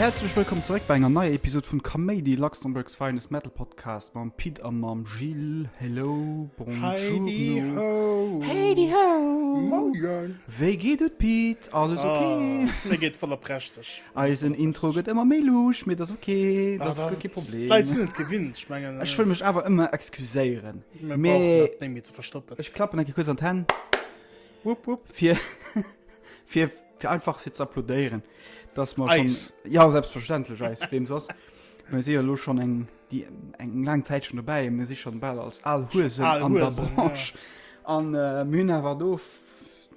Häerzlech wëllkomm zeréck bei enger neier Episod vun Kaméidi, Luxembourg's finest Metal Podcast mam Pit a mam Gilles. Hello, bonjour. Heidi ho! Moien! Wéi geet et Pit? Alles okay? Ah, mir geet voller prächteg. Eisen Intro gëtt ëmmer méi luucht, mee dat ass ok, dat ass guer kee Problem. D'Leit sinn et gewinnt, ech mengen. Ech wëll mech awer ëmmer excuséieren. Mir brauchen dat néng méi ze verstoppen. Ech klappen eng Kéier kuerz an d'Hänn. Wupp, wupp. Fir, fir, fir einfach fir ze applaudéieren, dass mer schonn. Eis. Jo, selbstverständlech eis, weem soss? Mir si jo elo schonn eng, déi, eng laang Zäit schonn dobäi. Mir si schonn bal als al Huesen an der Branche. Al Huesen, jo. An mir hunn awer do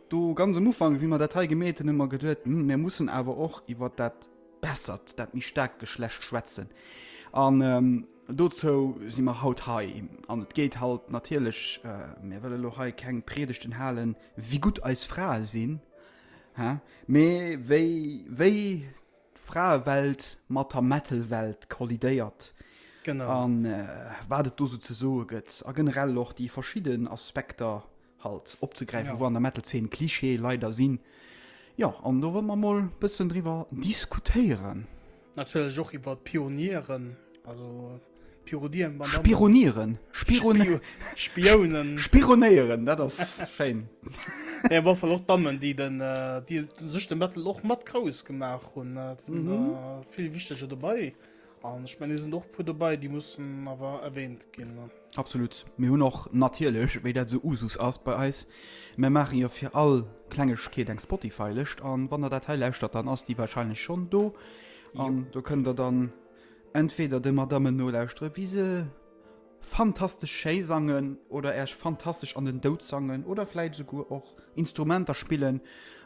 Do ganz am Ufank, wéi mer dat hei gemeet hunn, hu mer geduet, hm, mir mussen awer och iwwer dat bessert, dat méi staarkt Geschlecht schwätzen. An ähm, dozou si mer haut hei. An et geet halt natierlech, äh, mir wëlle lo hei keng Priedegten halen, wéi gutt eis Frae sinn, hä? mee wéi, wéi d'Fraewelt mat der Metal-Welt kollidéiert. Genau. An äh, wat et do sou ze soe gëtt. A generell och déi verschidden Aspekter, Halt opzegräifen, wou an der Metal-Zeen Klischeeë leider sinn. Jo, an do wëlle mer emol e bëssen driwwer diskutéieren. Natierlech och iwwer d'Pionieren, also Pirodien, Madame. Spironieren, Spironieren. Spiounen. Spironéieren, dat ass schéin. Mee op alle Fall och d'Dammen, déi den, déi sech de Metal och mat grouss gemaach hunn. Et sinn der vill wichtege dobäi. An ech mengen, et sinn och e puer dobäi, déi mussen awer erwähnt ginn. Absolut. Mir hunn och natierlech, wéi dat esou Usus ass bei eis, mär maachen jo fir all Klengegkeet eng Spotify-Lëscht. An wann der dat hei lauschtert, dann ass déi wahrscheinlech schonn do. An do kënnt der dann entweder de Madammen nolauschteren, wéi se. Fantastesch schéi sangen oder Äech fantastesch an den Doud sangen oder vläit esouguer och Instrumenter spillen,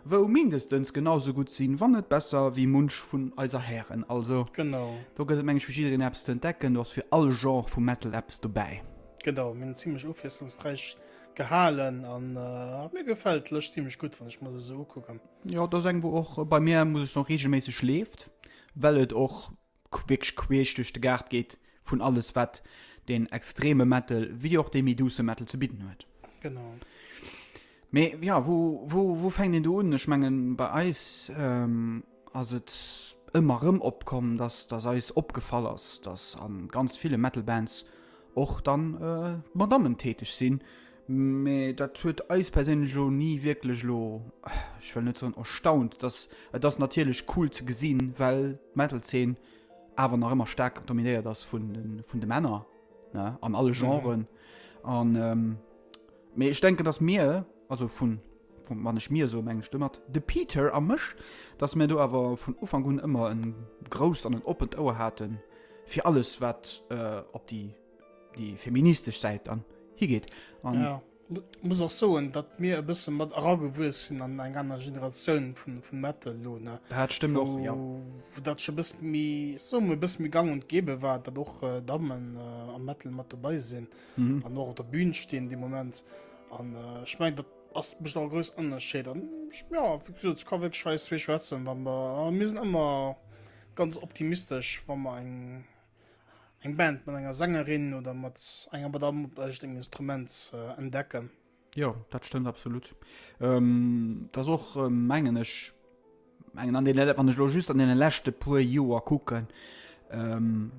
wou mindestens genau esou gutt sinn, wann net besser, wéi munch vun eiser Hären. Also genau. Do gëtt et meng ech fir jiddereen eppes ze entdecken, do ass fir all Genre vu Metal eppes dobäi. Genau, mir hunn zimlech ofwiesslungsräich gehalen a mir gefält d'Lëscht zimlech gutt, wann ech mer se esou ukucken. Jo, et ass eng wou och bei mir, muss ech soen, reegelméisseg leeft, well et och wierklech queesch duerch de Gaart geet vun alles wat deen extreme Metal wéi och dee méi douce Metal ze bidden huet. Genau. Mee ja wou, wou, wou fänkt een do un? Ech mengen bei eis ähm, ass et ëmmer erëm opkomm, dass, dass eis opgefall ass, dass a ganz ville Metal Bands och dann äh, Madammen täteg sinn, Mee dat huet eis perséinlech elo ni wierklech elo, ech wëll net soen erstaunt, dass, et ass natierlech cool ze gesinn, well d'Metal-Zeen awer nach ëmmer staark dominéiert ass vun de, vun de Männer, ne, an alle Genren. Mhm. An, ähm, mee ech denken, dass mir, also vun, vun, wann ech mir soe mengen ech domat de Peter a mech, dass mir do awer vun Ufank un ëmmer e grousst an en oppent Ouer hate fir alles, wat äh, op déi. déi feministesch Säit an higeet. An ja, muss och soen, datt mir e bësse mat eragewuess sinn an eng aner Generatioun vun, vun Metal lo, ne? Dat stëmmt och, ja. Wou dat scho bësse méi, soe mer, bësse méi gang und gäbe war, datt och äh, Dammen äh, am Metal mat dobei sinn mhm. an och op der Bühn stinn de Moment. An äh, ich mein, dat ass bech a grouss Ënnerscheed an ja, wie gesagt, kann wéi schwätzen, wann mer mir sinn ëmmer ganz optimistesch, wann mer eng eng Band mat enger Sängerin oder mat enger mat am eischt engem Instrument äh, entdecken. Jo, dat stëmmt absolut. Ähm, dat och äh, mengen ech mengen an den wann ech lo just an den lächte puer Joer kucken ähm,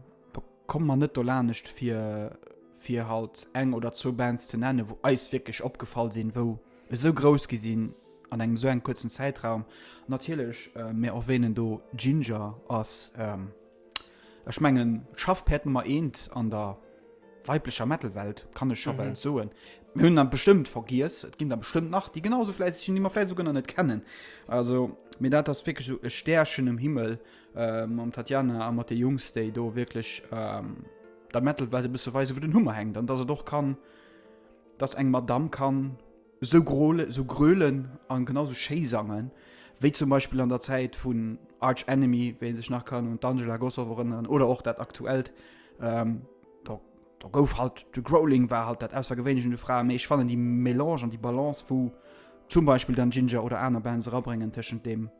komm man net do lanecht fir fir halt eng oder zwou Bands ze nennen, wo eis wirklich opgefall sinn, wou e so groß gesinn an engem so en kurzen Zeitraum natierlech äh, mir erwähnen do Ginger ass ähm, Ech mengen d'Schaffpäerd Nummer eent an der weiblecher Metal-Welt, kann ech scho bal soen. Mir hunn der bestëmmt vergiess, et ginn der bestëmmt nach, déi genau esou fläisseg sinn, déi mer vläicht esouguer nach net kennen. Also, mee dat ass wierklech esou e Stärchen um Himmel, mam Tatjana a mat de Jungs, déi do wierklech der Metal-Welt e bësse weisen, wou den Hummer hänkt an dass et och kann, dass eng Madamm kann, Sou grôle, sou grölen an genau sou schéi sangen wéi zum Beispill an der Zäit vun Arch Enemy, wéi een sech nach kann un d'Angela Gossow erënneren, oder och dat aktuellt, do do gouf halt de Growling war halt dat Aussergewéinlecht un de Fraen, mee ech fannen déi Melange an déi Balance wou zum Beispill dann Jinjer oder aner Bands erabréngen tëschent dem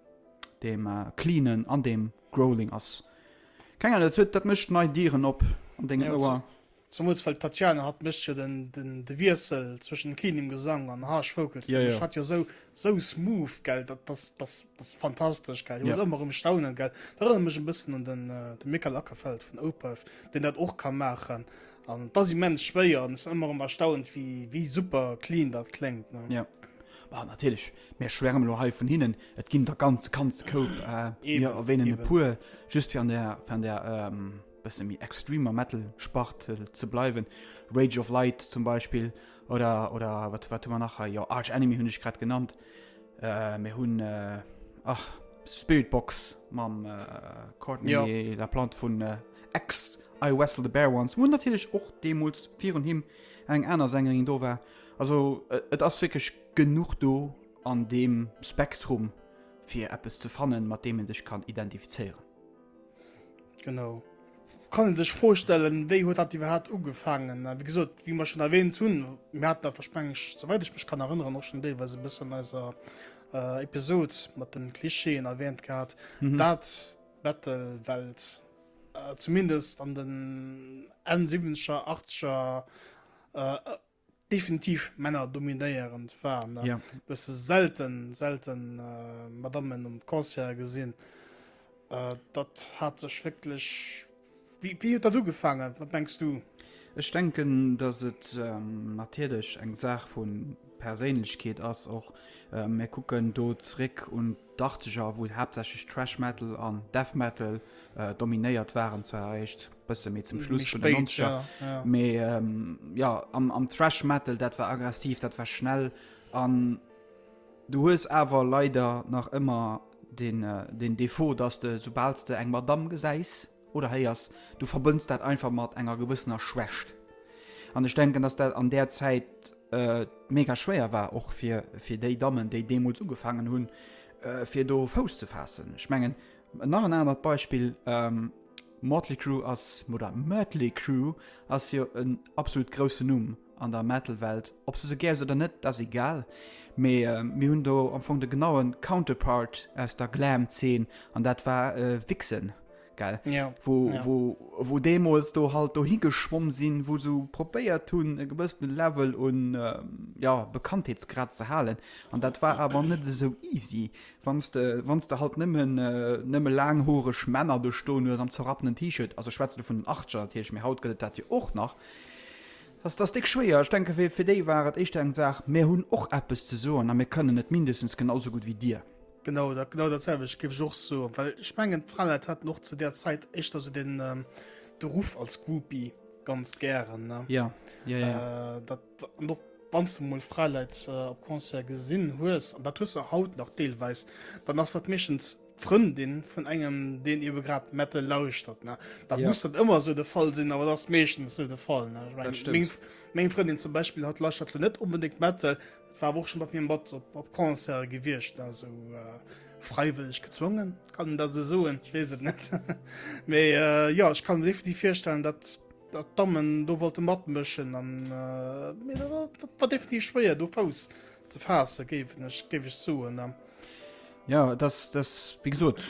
dem Cleanen an dem Growling ass keng Ahnung, dat huet dat mécht nei Dieren op an dengem Ouer. Zemools well d'Tatiana hat mécht jo de Wiessel zwëschen cleanem Gesang an harsh vocals, déi mécht hat jo esou esou smooth, gell, dat ass dat ass fantastesch, gell. Ech muss ëmmer erëm staunen, gell, dat erënnert mech e bëssen un den de Mikael Åkerfeldt vun Opeth, deen dat och ka maachen an et ass immens schwéier an ech sinn ëmmer erëm erstaunt wéi wéi super clean dat kléngt, ne. Jo, ma natierlech, mir schwärmen elo hei vun hinnen, et ginn der ganz ganz Koup, mir erwänen e puer just fir an der fir an der bësse méi extremer Metal-Spart äh, ze bleiwen. Rage of Light zum Beispill oder, oder wat, wat man nachher jo Arch Enemy hunn ech grad genannt. Äh, mir hunn äh, ach, Spiritbox mam äh, Courtney ja. la Plante vun äh, X I Wessel the Bear ones. Hun natierlech och deemols virun him eng aner Sängerin do war. Also äh, et ass wéckeg genug do an dem Spektrum fir Appppes ze fannen, mat deem en sech kann identifizéieren. Genau. Kann een sech d'Fro stellen, wéi huet dat iwwerhaapt ugefaangen? A wéi gesot, wéi mer schonn erwähnt hunn, mir haten awer, meng ech, souwäit ech mech kann erënneren, och schonn deelweis e bëssen an eiser Episod mat de Klischeeën erwähnt gehat, dat d'Battle-Welt zumindest an den Enn Siwwenzger, Achtzeger, Definitiv Männer dominéierend waren da. Ja. Du hast selten, selten äh, Madammen um Concert gesinn. Äh, dat hat sech wirklich. Wie, wie hat dat ugefangen? Was denkst du? Ech denken, dass et ähm, natierlech eng Saach vu Perséinlechkeet ass och. Äh, mir kucken do zréck un d'Achtzeger, wou haaptsächlech Thrash Metal an Death Metal dominéiert waren, zwar eréischt bësse méi zum Schluss vun den Nonzeger, mee jo, am Thrash Metal, dat war aggressiv, dat war schnell an du hues awer leider nach ëmmer den Defaut, datt de, soubal s de eng Madamm gesäis, Oder hei ass, du verbënns dat einfach mat enger gewëssener Schwächt. An ech denken, dass dat an där Zäit mega schwéier war, och fir déi Dammen, déi deemools ugefaangen hunn, fir do Fouss ze faassen. Ech mengen, nach en anert Beispill, Motley Crew ass, oder Mötley Crüe ass jo en absolut groussen Numm. an der Metal-Welt. Ob se se gär hues oder net, dat ass egal. Mee äh, mir hunn do am Fong de genaue Counterpart aus der Glam-Zeen, an dat war äh, Vixen. Gell? Ja. Wo, ja. wo, wo deemools do halt do higeschwomm sinn, wo se probéiert hunn, e gewëssene Level un äh, ja, Bekanntheetsgrad ze halen. An dat war awer net esou easy. Wann s de, wann s de halt nëmmen äh, nëmme laanghoreg Männer do stoen hues am zerrappenen T-Shirt, also schwätze vun den 80er, dat heescht, mir haut gëtt et dat jo och nach. Dat ass déck schwéier. Ech denke fir fir déi war et éischter eng Saach, mir hunn och eppes ze soen a mir kënnen et mindestens genau esou gutt wéi Dir. Genau dat, genau dat selwecht géif ech och soen, well ech mengen d'Fraleit haten och zu där Zäit éischter esou den de Ruff als Groupie ganz gären, ne? Jo, jo, jo. Dat, an och wann s de mol Fraleit op Concerte gesinn hues, an dat hues de haut nach deelweis, dann ass dat meeschtens, Frëndin vun engem den eben grad Metal lauschtert ne da ja. muss dat immer so de Fall sinn, aber das meeschtens so de Fall Mg Frëndin zum Beispiel hat lauschtert net unbedingt Metal war woch schon mat mir Bad op, op Konzer gewircht also äh, freiwillig gezwungen kann dat se soen ich wees net méi äh, ja ich kann definitiv firstellen dat dat dammen do wollte mat mëschen an äh, war definitiv schwéier do faus ze fa géif ich soen. Äh. Ja das das wie gesot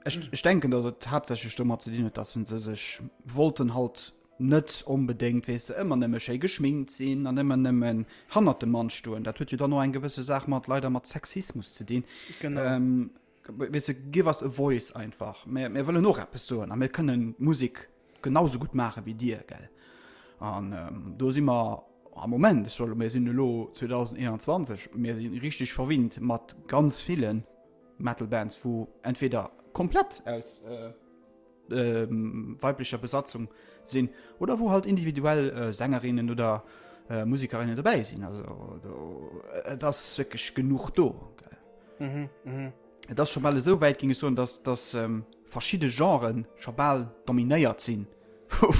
Ech denken dat et hauptsächlich dummer ze dienen, dass se sech wollten halt net onbedéngt wees de ëmmer nëmme schéi geschminkt sinn an ëmmer nëmmen hannner dem Mann stoen. Dat huet jo dann no eng gewësse Saach mat leider mat Sexismus ze dinn. Ähm, weißt du, give us a voice einfach. Mir, mir wëllen och eppes soen a mir kënnen Musik genau sou gutt maachen wéi dir gell an do si mer am Moment ech soll mir sinn elo 2021 mir si richteg verwinnt mat ganz ville Metal Bands wou entweder komplett aus weiblecher Besatzung sinn oder wou halt individuell Sängerinnen oder Musikerinnen dobäi sinn also do et ass wierklech genuch do gell et ass scho bal esou wäit ginn ech soen dass dass verschidde Genre scho bal dominéiert sinn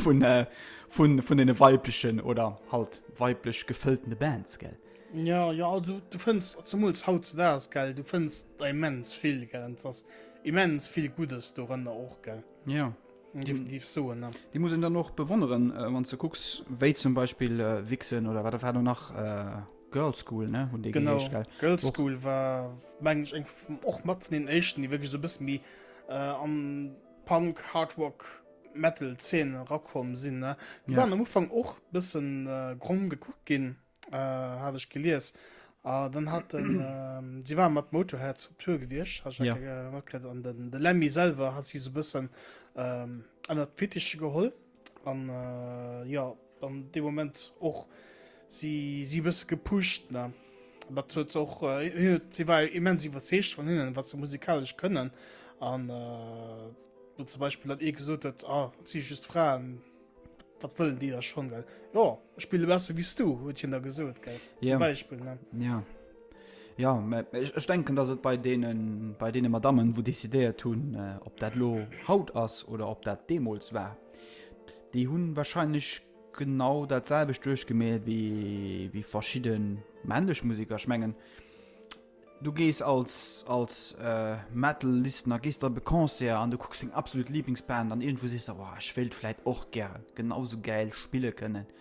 vun den weiblechen oder halt weiblech gefëlltene Bands, gell? Jo, jo, also du fënns zemools hautzedaags, gell, du fënns der immens vill, gell, an et ass immens vill Guddes dorënner och, gell? Jo. Definitiv soen, ne? Déi muss een dann och bewonneren, wann s de kucks, wéi zum Beispill Vixen oder wat der war do nach? Girls School ne hun dee geheescht gell? Genau, Girls School war mengen ech eng och mat vun den éischten, déi wierklech esou e bësse méi äh, an Punk, Hard Rock, Metal Szene erakomm sinn ne. Déi Ja. waren am Ufang och bëssen äh, gromm gekuckt ginn, äh, hat ech gelies. A dann hat den, ähm, si war mat Motorhead op Tour gewiescht, hat ech Ja. ja. matgekritt. An den de Lemmy selwer hat si esou e bëssen ähm, ënnert d'Fittiche geholl. An äh, jo, an dee Moment och si si bësse gepusht, ne? Dat huet se och äh, si war immens iwwerzeegt vun hinnen, wat se musikalesch kënnen. An äh, zum Beispiel dat ee gesot huet, ah, si just Fraen, wat wëllen déi da schonn? Jo, ech spille besser wéi s du, huet hien da gesot, gell? Zum ja. Beispiel, ne? Ja. Ja, mä ech, ech denken, dass et bei deene, bei deene Madammen, wou décidéiert hunn, ob dat elo haut ass oder ob dat deemools war, déi hu wahrscheinlech genau dat selwecht duerchgemaht wéi, wéi verschidde männlech Museker. Ech mengen, du gees als, als äh, Metal-Listener gees der op e Concert an du kucks deng absolut Lieblingsband an iergendwou sees de, Wow, ech wéilt vläit och gären genau esou gäil spille kënnen.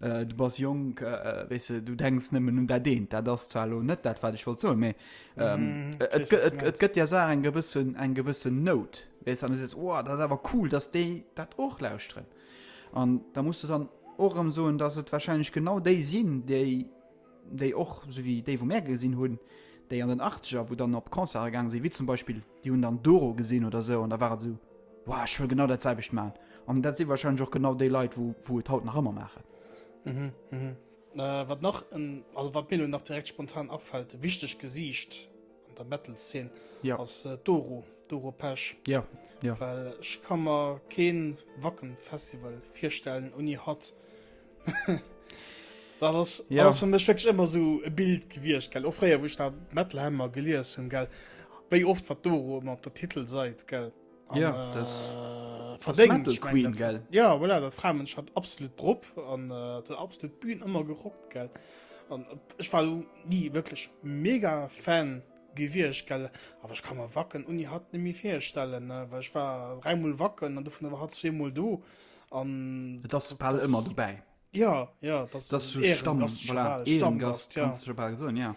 Äh, du bass jonk, äh, äh, weess de, du denks nëmmen un dat eent. Dat ass zwar elo net dat, wat ech wollt soen, mee ähm, mm, et, gëtt, et, et gëtt ja so eng gewëssen, eng gewëssen Nout. Weess an du sees, oh, dat awer cool, dass déi dat och lauschteren. An da musst du dann och ëm soen, dass et wahrscheinlech genau déi sinn, déi déi och, sou wéi déi wou mär gesinn hunn, déi an den Achteger wou dann op Concerte gaange sinn, wéi zum Beispill déi hunn dann Doro gesinn oder esou an da war et esou, Wow, ech wëll genau dat selwecht maachen. An dat si warscheinlech och genau déi Leit wou wou et haut nach ëmmer maachen. Mhm, mhm. Wat nach, also wat mir elo nach direkt spontan afält, e wichtegt Gesiicht an der Metal-Szene, Jo. ass d'Doro, d'Doro Pesch. Jo, jo. Well ech ka mer kee Wacken-Festival virstellen ouni hatt. Dat ass ja. ass fir mech wécklech ëmmer sou e Bild gewiecht gell. Och fréier wuch dat Metalhammer gelies hunn gell. Wéi oft wat do rum op der Titel seit gell. An, ja äh, das verdéngt ich mein, dat, gell. Ja voilà, dat Framensch hat absolut drop an äh, der absolut Bühn ëmmer gerockt gell. An ech war nie wëklech mega Fan gewiecht gell. Awer ich kann mal wacken Uni hat nimi firstellen, wech war dreimal wacken an du vun der hat zwemal do. an et ass bal ëmmer dobäi ja ja das das so stamm voilà, Ehrengast ja. kannst du bal so ja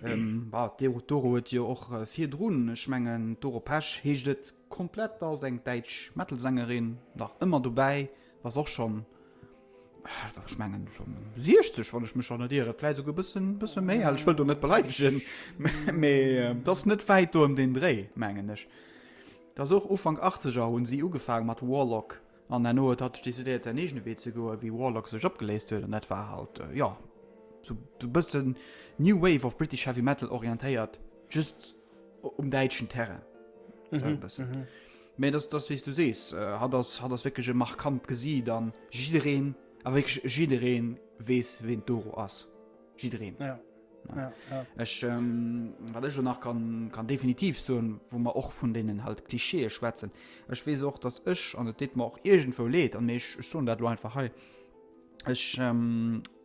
ähm, bah, der Doro huet jo och äh, fir drun schmengen Doro Pesch heescht et komplett als eng deitsch Metalsängerin nach ëmmer dobäi was och schon schmengen schon 60 wann ich mich schon iere vielleicht sogar bisschen bisschen méi ich will du net beleidigen me das net weit du um den Dreh mengen ich Dass och Ufank Achtzeger hunn si ugefaang mat Warlock an herno huet hatt sech decidéiert säin eegene Wee ze goen wéi Warlock sech opgeléist huet an dat war halt jo sou e bëssen New Wave of British Heavy Metal orientéiert just um däitschen Terrain sou e bëssen mee dass dass wéi s du sees hatt ass hatt ass wierklech e markant Gesiit an jiddereen a wierklech jiddereen weess ween d'Doro ass jiddereen. Ech, wat ech elo nach kann, kann definitiv soen, wou mer och vun deenen halt Klischeeë schwätzen, ech weess och, datt ech, an et deet mer och iergendwou leed, an mee ech soen dat elo einfach hei, ech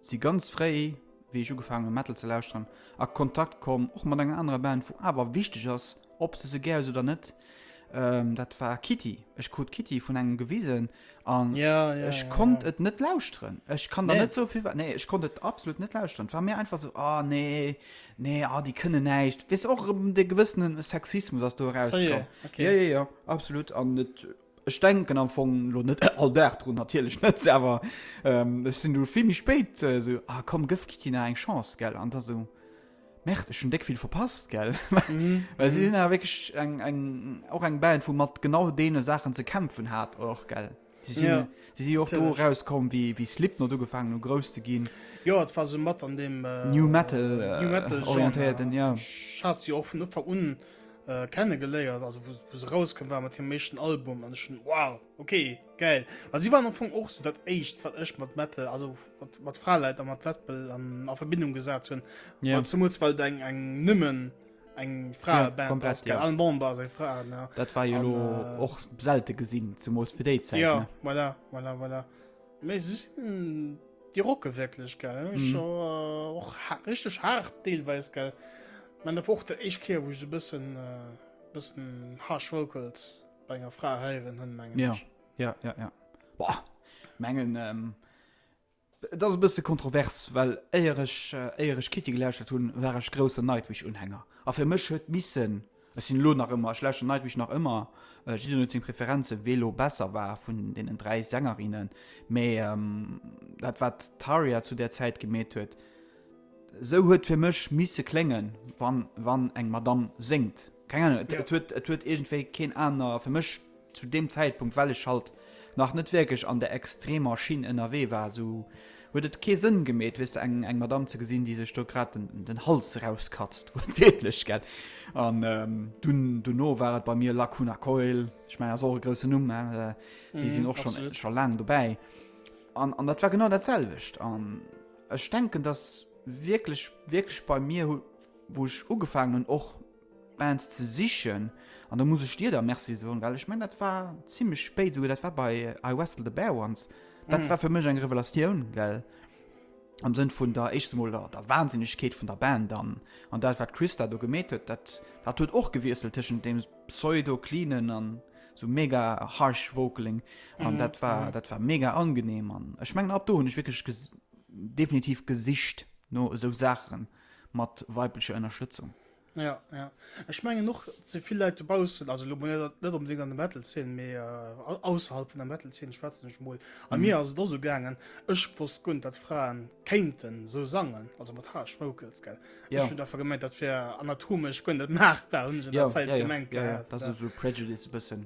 si ganz fréi, wéi ech ugefaangen hunn Metal ze lauschteren, a Kontakt komm och mat enger anerer Band, wou awer wichteg ass, Ob se se gär hues oder net, ähm, dat war Kitty. Ech krut Kitty vun engem gewisen an ja, ja, ech ja, konnt ja. et net lauschteren. Ech kann nee. da net sovill war. Nee, ech konnt et absolut net lauschteren. war mir einfach so ah, nee, nee ah, die kënne näicht. Wees och um, de gewëssenen Sexismus ass du heraus. So, yeah. okay. ja, ja, ja, absolut an net Ech denken am Fong lo net all Dag drun, natierlech net, awer ech sinn du vill méi spéit esou, ah komm gëff Kitty nach eng Chance, gell, an da sou, merde, ech hunn déck vill verpasst, gell, well si sinn awer wierklech eng, eng, och eng Band, wou mat genau deene Saachen ze kämpfen hat och, gell. Si sinn jo, si si jo och do erauskomm, wéi, wéi Slipknot ugefaangen hu grouss ze ginn. Jo, et war sou mat an deem. New Metal orientéierten, ja. Ech hat se jo och vun Ufank un. äh, kennengeléiert, also wo, wo se rauskam war mat dem mechten Album an schon wow okay geil. Also sie waren am Fong och so dat echt wat ech mat Metal also mat, mat Fraleit an mat Wettbel an a Verbindung gesat hunn yeah. zum weil eng eng nëmmen eng Fra ja, Band komplett, ja. an Bomber se Fra dat war jo och äh, selte gesinn zum fir déi Zeit, ja, voilà, voilà, voilà. Mee sinn déi rocke wierklech, gell? Mhm. Scho äh, och ha richteg hart deelweis, gell? Man der och der éischt Keer, wou ech e bëssen äh, bëssen harsh Vocals bei enger Fra heieren hunn, mengen Ja, ech. ja, ja, ja. Boah, mengen, ähm, das ist ein bisschen kontrovers, well éier ech, äh, éier ech Kitty gelauschtert hunn, war ech groussen Nightwish-Unhänger. A fir mech huet missen Ech sinn elo nach ëmmer, ech lauschteren Nightwish nach ëmmer, jiddereen huet seng Preferenzen, wee elo besser war vun deenen dräi Sängerinnen, mee dat wat d'Tarja zu där Zäit gemeet huet, esou huet fir mech misse kléngen, wann eng Madamm séngt. Keng Ahnung, et huet iergendwéi keen aner, fir mech Zu deem Zäitpunkt, well ech halt nach net wierklech an der extremer Schinn ënnerwee war, esou huet et kee Sënn gemeet, weess de, eng, eng Madame ze gesinn, déi sech do grad den, den Hals rauskatzt, wuertwiertlech, gell. An dunn, dono war et bei mir Lacuna Coil, ech mengen, ass och e groussen Numm, hein, déi sinn och scho, scho laang dobäi. An, an dat war genau dat selwecht. An ech denken, dass wierklech, wierklech bei mir, wou ech ugefaangen hunn, och Bands ze sichen an do muss ech dir da Merci soen, well ech meng dat war zimlech spéit esouguer, dat war bei I Wrestle the Bear Once, dat war fir mech eng Revelatioun, well am Sënn vun der éischtens emol der der Wahnsinnegkeet vun der Band an an dat wat d'Christa do gemeet huet, dat dat huet och gewiesselt tëschent deem pseudo cleanen an esou mega harsh vocaling an dat war dat war mega angenehm an ech mengen ab do hunn ech wierklech ges definitiv gesicht no esou Saache mat weiblecher Ënnerstëtzung. Ja, ja. Ech mengen och ze vill Leit dobaussen, also lo net net unbedingt an de Metal Zeen, mee äh, ausserhalb vun der Metal Zeen schwätzen ech mol. A mhm. mir ass et so gaangen, ech wosst gunt, dat Fraen kéinten so sangen, also mat Harsh Vocals gell. Ja. Ech hun dafür gemeint, dat fir anatomech gënn net maachbar hun ja, Zeit ja, gemengt. Ja, ja, ja. Dat ja. so Prejudice bëssen.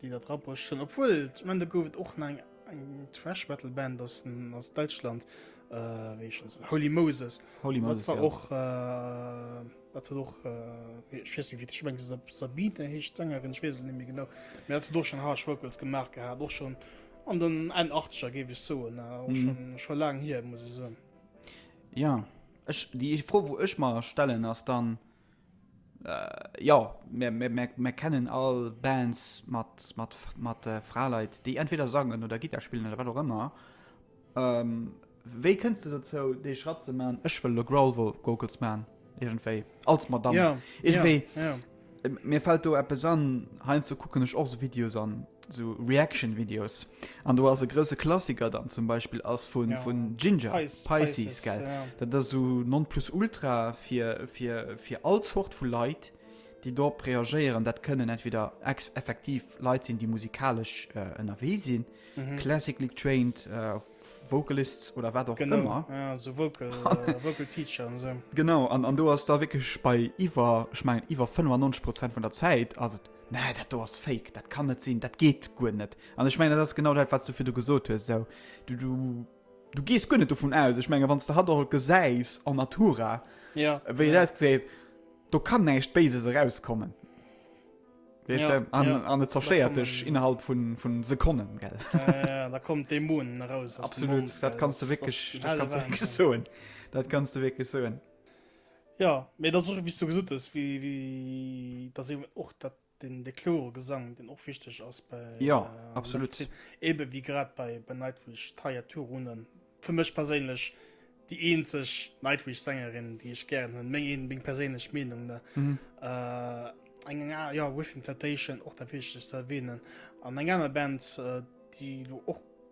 Déi dat rapperecht hunn, obwuel zum Ende gouf et och nach eng Thrash Metal Band aus aus Däitschland, äh, wéi heeschen se, Holy Moses. Holy Moses, ja. Dat war och, äh, dat huet och, äh, ech weess net wéi, ech mengen Sab, Sabine heescht d'Sängerin, ech weess et net méi genau, mä dat huet och schonn Harsh Vocals gemaach gehat, och schonn an den Enn-Achtzeger géif ech soen, äh, och schonn, schonn laang hier, muss ech soen. Jo, ech, déi Fro wou ech mer stellen ass dann, Jo, mär kennen all Bands mat Fraleit, déi entweder sangen oder Gittar spillen oder wat och ëmmer. Wéi kënns de dozou, dee Schratt ze man? Ech wëll elo Growlvocals man, iergendwéi, als Madamm. Iergendwéi, mir fält do eppes an. Heiansdo kucken ech och esou Videos an Sou Reaction Videos an do ass e grouse Klassiker dann zum Beispill ass vu vun Ginger Pisces gell. Dat ass sou non plus ultra fir fir fir all Zort vu Leit déi dorop reagéieren. Dat kënnen entweder ex effektiv Leit sinn, déi musikalesch ënnerwee äh, sinn, mhm. classically trained äh, Vocalists oder wat och ëmmer ja, so Vocal, äh, Vocal Teacher an so. Genau an, an do ass da wéckeg bei iwwer schmengen iwwer 95 Prozent vun der Zäit ass et Nee, dat do ass fake, dat kann net sinn, dat geet guer net. An ech meng dat ass genau dat, wat du fir du gesot hues. So. Du, du, du gees guer net dovun aus. Ech menge wann du hat all gesäis an Natura ja, wéi ja. seet, do kann näicht Béises erauskommen. Weißt ja, du, an, ja. an et zerschéiert dech innerhalb vun vu Sekonnen gell. Ja, ja, da kommt de Moon raus. Absolut, dat kannst du wéckeg soen. Dat kannst du wéckeg soen. Jo, mee et ass och, wéi s du gesot hues, wéi, wéi, et ass eben och dat, deen, dee kloere Gesang, deen och wichteg ass bei, an Ja, der absolut. Medezin. Eben wéi grad bei, bei Nightwish, d'Tarja Turunen, fir mech perséinlech déi eenzeg Nightwish-Sängerin, déi ech gären hunn, meng een, meng perséinlech Meenung, ne? Mhm. Äh, eng, eng aner, jo, Within Temptation, och dat Wichtegst ze erwähnen. An eng aner Band, äh, déi elo och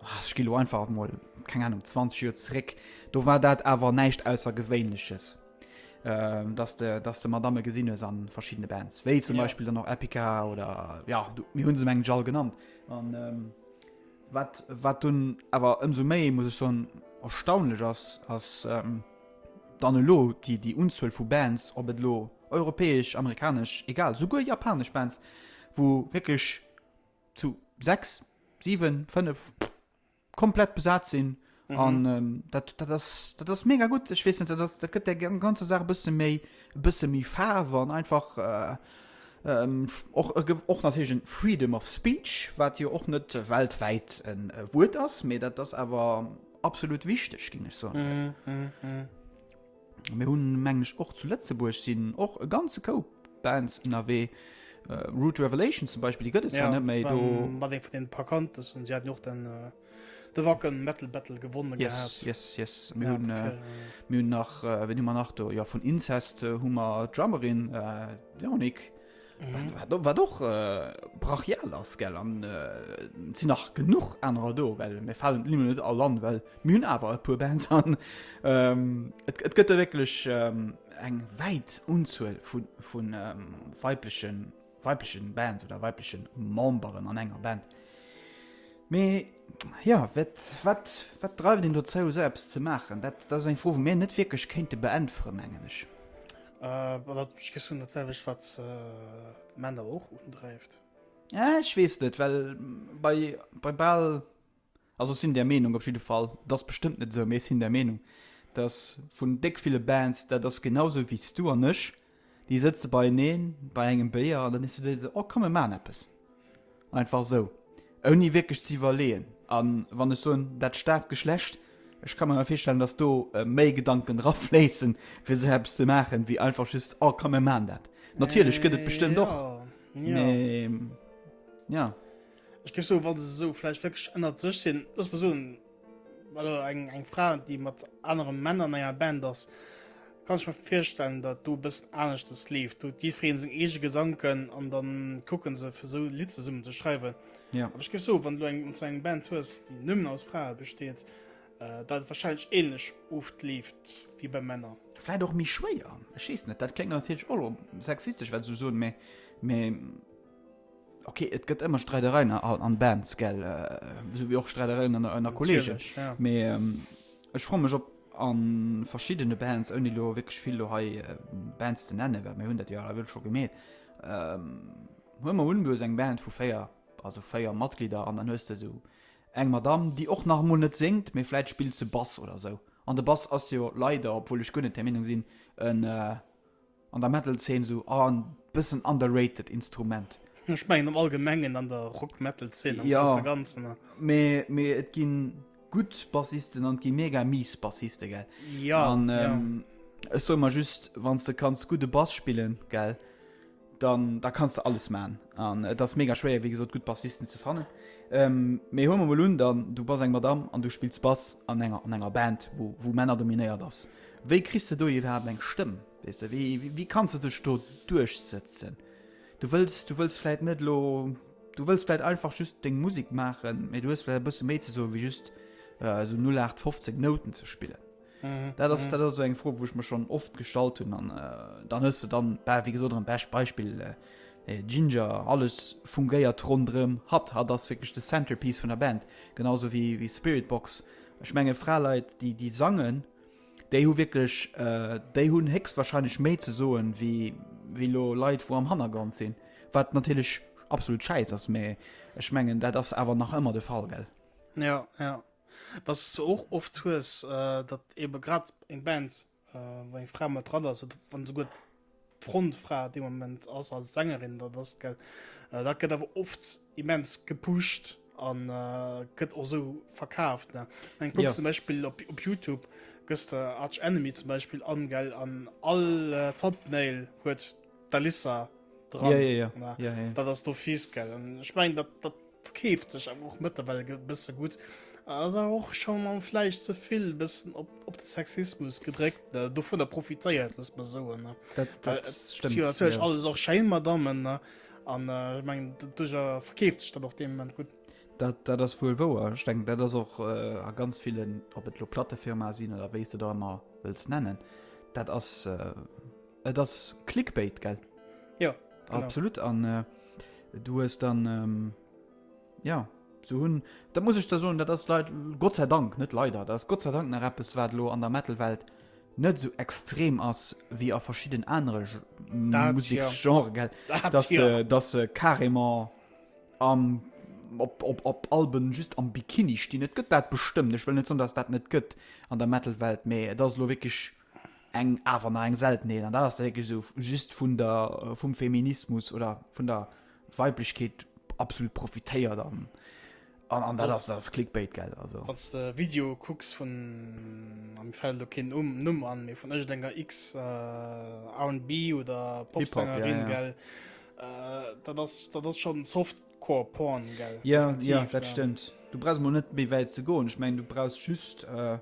ah, ech gi lo einfach mol keng Ahnung 20 Joer zréck, do war dat awer näischt aussergewéinleches. Ähm, dass de dass de Madame gesinn hues an verschiedene Bands. Wéi zum Ja. Beispiel dann noch Epica oder ja du, mir hunn se mengen all genannt. An ähm, wat wat dunn awer ëmsou méi muss ech soen erstaunlech ass ass ähm, dann elo déi déi Unzuel vu Bands, ob et lo europäesch, amerikanesch, egal souguer japanesch Bands, wou wierklech zu 6, 7, 5 komplett besat sinn an dat dat ass dat ass mega gutt. Ech weess net, dat ass dat gëtt der gam- ganze Saach e bësse méi e bësse méi Faarf an einfach äh, ähm, f- och e ge- och natierlech en Freedom of Speech, wat jo och net weltwäit en e Wuert ass, mee dat ass awer absolut wichteg, géing ech soen. Mir hunn, mengen ech, och zu Lëtzebuerg sinn och e ganze Koup Bands ënnerwee. Rude Revelation zum Beispill, déi gëtt et zwar net méi. Do war ee vun deene bekanntesten. Si haten jo och den, de Wacken Metal Battle gewonnen gehat. Yes, yes, yes. Mir hunn, mir hunn nach, wien hu mer nach do? Jo, vun Incest hu mer d'Drummerin Véronique. Wat och brachial ass gell an sinn nach genuch anerer do, well mir falen limmer net all an, well mir hunn awer e puer Bands an et gëtt der wécklech eng wäit Unzuel vu weiblechen weiblechen Bands oder weiblechen Memberen an enger Band. Mee jo wat wat wat dreift een dozou esou eppes ze maachen? Dat ass eng Fro wou mir net wierklech kéinte beäntwere mengen ech. Äh, dat ech gessun dat selwech wat äh, Männer och undreift. Ja, ech wees net, well bei, bei Ball also sinn der Meinung op jeden Fall, das bestëmmt net so mées sinn der Meinung, dass vun déck ville Bands dat ass genauso wies du an ech, déi sëtze beieneen bei engem Béier an dann is du se oh komm mir maan eppes. Einfach esou. Ouni wierklech ze iwwerleeën. A wann ech soen dat staarkt Geschlecht, ech ka mer awer virstellen, datt do méi Gedanken drafléissen, fir esou eppes ze maachen, wéi einfach just, oh komm mir maachen dat. Natierlech gëtt et bestëmmt och, mee jo. Ech géif soen, wa se esou vläicht wierklech ënnert sech sinn, looss mer soen, Also eng, eng Fra, déi mat anere Männer an enger Band ass, kann ech mir virstellen, datt do e bëssen aneschtes leeft. Do huet jiddwereen seng eege Gedanken an dann kucke se, fir esou e Lidd zesummen ze schreiwen. Ja. Awer ech géif soen, wann du eng, wann s du eng Band hues, déi nëmmen aus Frae besteet, datt et warscheinlech ähnlech oft leeft wéi bei Männer. Vläit och méi schwéier, ech weess net. Dat kléngt natierlech och elo sexistesch, wat ech esou soen, mä, mä. Ok et gëtt ëmmer Streidereien an Bands gell sou wéi och Streidereien an ënner Kolleegen. Mee ech froe mech op an verschiddene Bands ouni elo wierklech vill do hei Bands ze nennen, well mir hunn dat jo alleguer scho gemeet. Huel mer un du hues eng Band vu 4, also 4 Matglieder an dann hues de esou eng Madamm déi och nach emol net séngt, mee vläit spillt se Bass oder esou. An de Bass ass jo leider, obwuel ech guer net där Meenung sinn, en. An der Metal Zeen esou en bëssen underrated Instrument. Ech mengen am allgemengen an der Rock Metal Zeen am grosse ganzen. Jo mee et ginn gutt Bassisten an et ginn mega mies Bassisten gell. Jo ech soe mer just wann s de kanns gudde Bass spillen gell dann da kanns de alles man an et ass mega schwéier wéi gesot gutt Bassisten ze fannen. Mee huele mer mol un dann du bass eng Madame an du spills Bass an enger an enger Band wou wou Männer dominéiert ass Wéi kriss de do iwwerhaapt eng Stëmm? Weess de, wéi, wéi kanns de dech do duerchsëtzen? Du wëlls, du wëlls vläit net elo, du wëlls vläit einfach just deng Musek maachen, mee du hues vläit e bësse méi ze soen, wéi just esou 0815 Nouten ze spillen. Dat ass, dat ass esou eng Fro, wou ech mer schonn oft gestallt hunn. An dann hues de dann, bah, wéi gesot, erëm bescht Beispill, Jinjer, alles fungéiert ronderëm hatt. Hatt ass wierklech de Centerpiece vun der Band, genau esou wéi Spiritbox. Ech menge Fraleit, déi, déi sangen, Déi hu wierklech, déi hunn héchstwahrscheinlech méi ze soen, wéi wéi elo Leit, wou am Hannergrond sinn. Wat natierlech absolut schäiss ass, mä ech mengen, dat ass awer nach ëmmer de Fall, gell? Jo, jo. Datt s de och oft hues, datt eebe grad eng Band, wou eng Fra mat dran ass oder wann esouguer d'Frontfra dee Moment ass als Sängerin, dat ass d'Gel. Dat gëtt awer oft immens gepusht an gëtt och esou verkaaft. Ne eng Punkt ja. zum Beispiel op, op Youtube gëss der Arch Enemy zum Beispiel an gell an all äh, Thumbnail huet d'Alissa dran. Ja, ja, ja. Ja, ja. Dat ass do fies gell. An ich mein, dat, dat Verkeeft sech awer och mëttlerweil e bësse gutt. Ass awer och schonn am vläicht ze vill e bëssen op, op de Sexismus gedréckt. Ne? Dovunner profitéiert, loosse mer soen. Ne? Dat, Well dat et si stimmt. jo natierlech Ja. alles och schéin Madammen. Ne? An äh, ech mengen, d- duercher verkeeft sech dat och deem Moment gutt. Dat, dat ass wuel wouer. Ech denken, dat ass och äh, a ganz villen, ob et lo Plattefirmae sinn oder wéi s de der ëmmer wëlls nennen, dat ass äh, Et ass Clickbait, gell? Ja, genau. Absolut, an äh, du hues dann, ähm, ja, so hunn, da muss ech da soen, dat ass leit, Gott sei Dank, net leider, dat ass Gott sei Dank nach eppes, wat lo an der Metal-Welt net so extrem ass wéi a verschidden anere Ge- Dat ja. Museksgenre, gell? Dat dass ja. se dass se carrément am op, op, op Alben just am Bikini stinn. Et gëtt dat bestëmmt. Ech wëll net soen, dass dat net gëtt an der Metal-Welt, mee et ass lo wierklech eng awer nach eng Seltenheet, an dat ass wierklech esou just vun der, vum Feminismus oder vun der Weiblechkeet absolut profitéiert an, an, an dat ass, dat ass Clickbait, gell, also. Wann s de Video kucks vun, a mir fält elo keen Numm an, mee vun iergendenger X-R&B oder Pop-Sängerin, gell, dat ass, dat ass schonn soft. Core Porn, gell? Ja, ja, Effektiv, dat ja. stëmmt. Du brauchst mol net méi wäit ze goen. Ech meng, du brauchst just äh,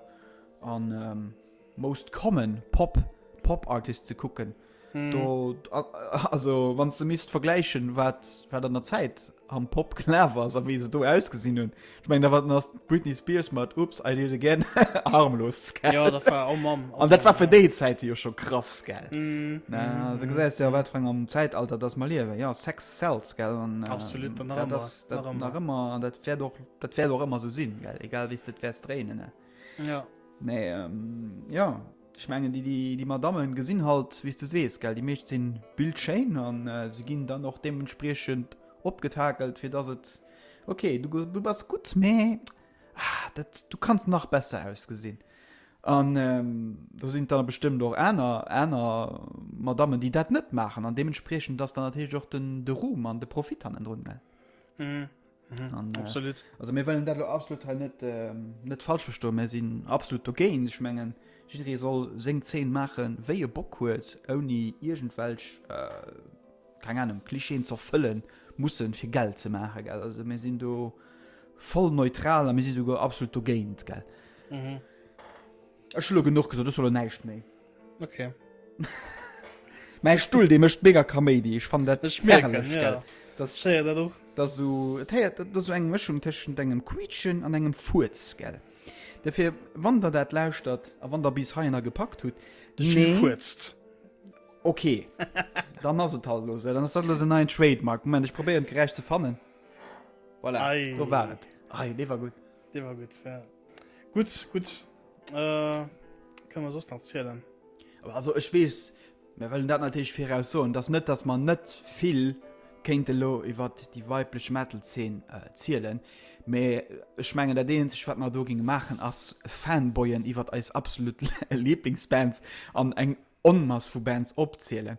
an ähm, Most Common Pop Pop Artist ze kucken. Hm. Do, a- a- also wann ze misst vergläichen, wat wat an der Zäit am Pop klar war, a wéi se do ausgesinn hunn, Ich mein, da war das Britney Spears mit Oops, I Did It Again harmlos. Gell? Ja, das war, oh Mann. Oh Und das war für die Zeit ja schon krass, gell? Mm. Na, mm. Du siehst ja, was für ein Zeitalter das wir leben. Ja, Sex sells, gell? Und, äh, Absolut, dann ja, das, das, das, immer. immer. Das wird auch, das wird auch immer so sein, gell? Egal, wie es das wirst drehen, ne? Ja. Nee, ähm, ja. Ich meine, die, die, die Madame gesehen halt, wie du siehst, gell? Die Mädchen sind bildschön und äh, sie gehen dann auch dementsprechend abgetakelt, für das es. Okay, du, du bass gutt, mee ah, dat, du kanns nach besser ausgesinn. An ähm, do sinn dann bestëmmt och aner aner Madammen, déi dat net maachen an deementspriechend ass dann natierlech och den de Ruhm an de Profit hannendrun gell. Mhm. Mhm, an, äh, absolut. Äh, also mir wëllen dat lo absolut hei net äh, net falsch verstoen, mir sinn absolut dogéint. Ech mengen jidderee soll seng Zeen maachen, wéi e Bock huet, ouni iergendwelch äh, keng Ahnung, Klischeen ze erfëllen mussen fir Geld ze maachen, gell. Also mir sinn do voll neutral a mir si souguer absolut dogéint, gell. Mhm. Ech hu lo genuch gesot, ech soll lo näischt méi. Okay. Mäi Stull, dee mécht mega Kaméidi. Ech fannen dat Ech mierken, herrlech, ja. gell. Das, Ech héier dat och. das so, et héiert dat ass so eng Mëschung tëschent engem Quietschen an engem Furz, gell. Derfir, wann Der dat lauschtert a wann Der bis heihinner gepackt hutt, De Schiff nee, fuerzt. Ok, dann ass et halt elo esou. Dann ass dat elo den neien Trademark. Moment, ech probéieren d'Geräisch ze fannen. Voilà, Ei. do war et. Ei, dee war gutt. Dee war gutt, ja. Gutt, gutt. Äh, kann man soss nach zielen? Aber also ech weess, mir wëllen dat natierlech viraus soen, dass net, dass man net vill kéinte lo iwwer déi weiblech Metal-Zeen äh, zielen. Mee ech mengen, dat eenzeg, wat mer do ginge maachen, ass Fanboyen iwwer eis absolut Lieblingsbands an eng Onmass vu Bands opzielen.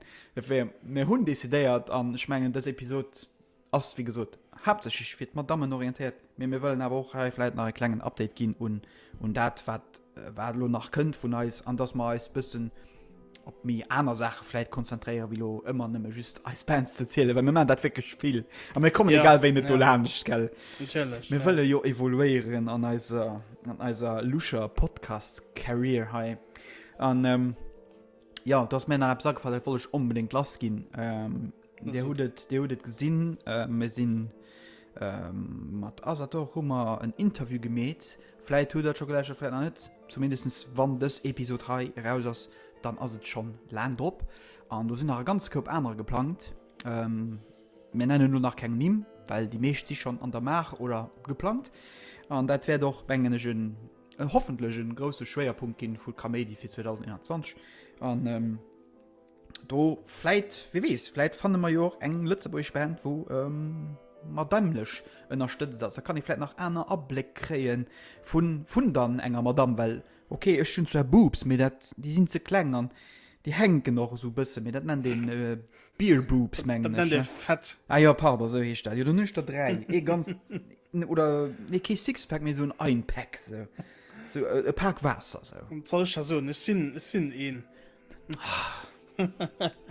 Mir hunn decidéiert, an ech mengen dës Episod ass wéi gesot haaptsächlech fir d'Madammen orientéiert, mee mir wëllen awer och hei vläit nach e klengen Update ginn un dat wat wat elo nach kënnt vun eis, an datt mer eis bëssen op méi aner Saache vläit konzentréiere wéi elo ëmmer nëmme just eis Bands ze zielen, well mir maachen dat wierklech vill a mir kommen egal wéi net dolaanscht, gell? Natierlech. Mir wëlle jo evoluéieren an eiser an eiser luscher Podcast-Carrière hei. An ähm, ja, du hast mir nach etwas angefallen, das wollte ich unbedingt lassgehen. Ähm, der hut et, der hut et gesinn, äh, mir sinn ähm, mat Asator hu mer en Interview gemeet. Vielleicht hut dat schon gleich vielleicht noch net. Zumindest wann dës Episode hei raus ass, dann ass et schon lang drop. An du sinn nach ganz Koup aner geplant. Ähm, mir nennen nur nach keng Nimm, weil die meescht si schon an der Maach oder geplant. An dat wär doch mengen ech en hoffentlech en grousse Schwéierpunkt ginn vu Kaméidi fir 2021 an ähm, do vläit, wie weess, vläit fanne mer jo och eng lëtzebuergesch Band wou ähm, mat dammlech ënnerstëtzt ass, da kann ee vläit nach aner Abléck kréie vun vun dann enger Madamm, well ok ech hunn zwar Boobs, mee dat déi sinn ze kleng an déi hänken och esou e bësse, mee dat nennt een. Beer Boobs mengen ech. Dat nennt ee fett. Ah jo, pardon, esou heescht dat jo. Dann hunn ech der dräi. Ee ganz, oder nee, kee Sixpack, mee esou en Einpack, esou e Pak Waasser esou. Wat soll ech da soen, ech sinn, ech sinn een.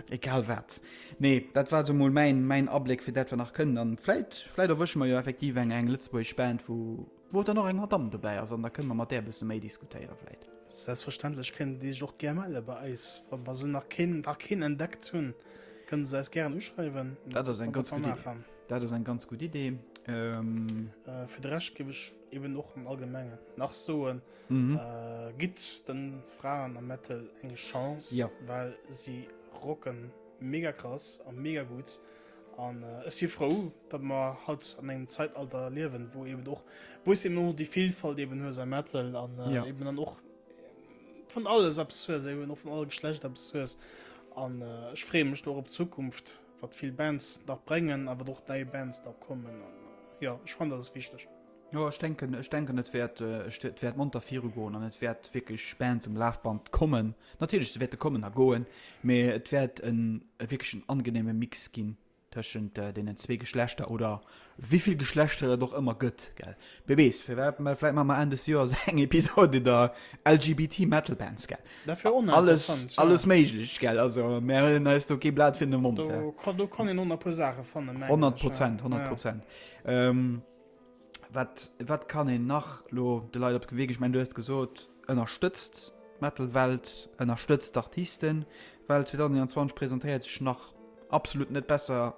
Egal wat. Nee, dat war esou mol mäin, mäin Abléck fir dat wat nach kënnt. An vläit, vläit erwësche mer jo effektiv eng, eng lëtzebuergesch Band, wou. Wou dann och eng Madamm dobäi ass an da kënne mer mat där e bësse méi diskutéiere vläit. Selbstverständlech kënnen déi sech och gär melle bei eis. Wa wa se nach keen nach keen entdeckt hunn, kënne se eis gären uschreiwen. Dat ass eng ganz gutt Idee. Dat ass eng ganz gutt Idee. Fir de Rescht géif ech eben och am Allgemengen nach soen, Gitt de Fraen am Metal eng Chance, well si rocken mega krass a mega gutt. An ech si frou, datt mer haut an engem Zeitalter liewen, wou eben och, wou s de eben och déi Vilfalt eben hues a Metal an eben dann och vun alles eppes hues, eben och vun alle Geschlechter eppes hues. An ech freeë mech do och op d'Zukunft, wat vill Bands nach bréngen a wat och nei Bands nach kommen. An jo, ech fannen, dat ass wichteg. Jo, ech denken, ech denken, et wäert, et wäert monter virugoen an et wäert wierklech Bands um Lafband kommen. Natierlech, se wäerte kommen a goen, mee et wäert e wierklech en angeneeme Mix ginn tëschent deenen zwee Geschlechter, oder wéivill Geschlechter et och ëmmer gëtt, gell? Wie weess, firwat, mä vläit maache mer Enn des Joers eng Episod iwwer LGBT Metal Bands, gell? Dat wär och nach interessant, jo. Alles méiglech, gell? Also, mär huelen eis do kee Blat virun de Mond. Do kann een och nach e puer Saache fannen, mengen ech. Honnert Prozent, honnert Prozent. Wat, wat kann een nach lo de Leit op de Wee ginn? Ech mengen, du hues gesot, ënnerstëtzt d'Metal-Welt, ënnerstëtzt d'Artisten, well 2021 presentéiert sech nach absolut net besser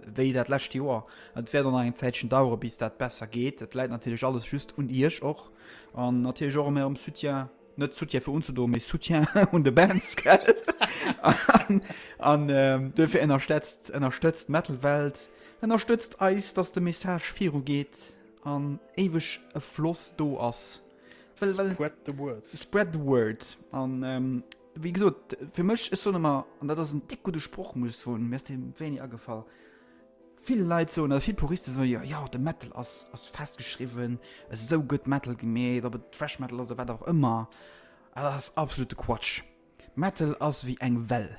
wéi dat lescht Joer. Et wäert och nach eng Zäitchen dauere bis dat besser geet. Et läit natierlech alles just un Iech och an natierlech och um ärem Soutien. net Soutien fir unzedoen, mee Soutien un de Bands, gell? an, an ähm, duerfir ënnerstëtzt, ënnerstëtzt Metal-Welt, ënnerstëtzt eis, dass de Message viru geet an éiweg e Floss do ass. Well, well, Spread the word. Spread the word. An ähm, wéi gesot, fir mech, ech soen ëmmer, an dat ass en déck gudde Sproch, muss ech soen, mir ass dee wéini agefall, Vill Leit soen, oder vill Puristen soen, jo, jo, de Metal ass, ass festgeschriwwen, esou gëtt Metal gemeet, ob et Thrash Metal ass oder wat och ëmmer, dat ass absolute Quatsch. Metal ass wéi eng Well,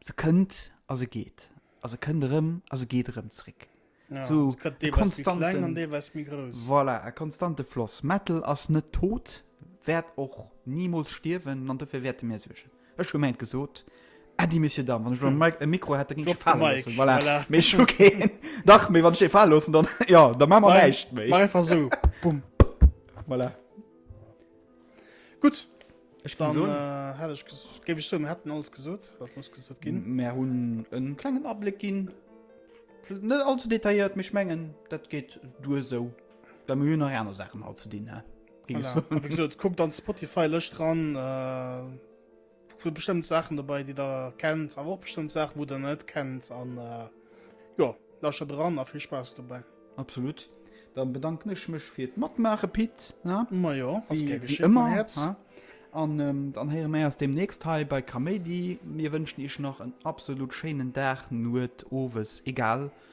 se kënnt a se geet, a se kënnt erëm a se geet erëm zréck. Ja, so, se gëtt deelweis méi kleng an deelweis méi grouss. Voilà, e konstante Floss. Metal ass net tot, wäert och nimools stierwen an dofir wäerte mir suergen. Ech gemengt gesot Äddi Monsieur Damm wann ech lo Mike e Mikro hätte ginn ech fale loossen voilà mee ech hu keen dach mee wann ech ee fale loossen dann jo da maache mer näischt méi mach einfach sou bumm voilà gutt ech kann soen dann hätt ech géif ech soen mir hätten alles gesot wat muss gesot ginn mer hunn e klengen Abléck ginn net all ze detailléiert mee ech mengen dat geet duer sou well mir hunn nach aner Saachen hei ze dinn he. Kuck dann Spotify löscht dran äh, bestimmt Sachen dabei die da kennt aber auch bestimmt Sachen wo der net kennt an äh, ja lascher dran a viel Spaß dabei absolut dann bedanken ich mich fir matmache Pit ja immer an ähm, dann heieren mir aus dem nächst he bei Kamedi mir wünschen ich nach en absolut schönen Dach nur ofes egal wie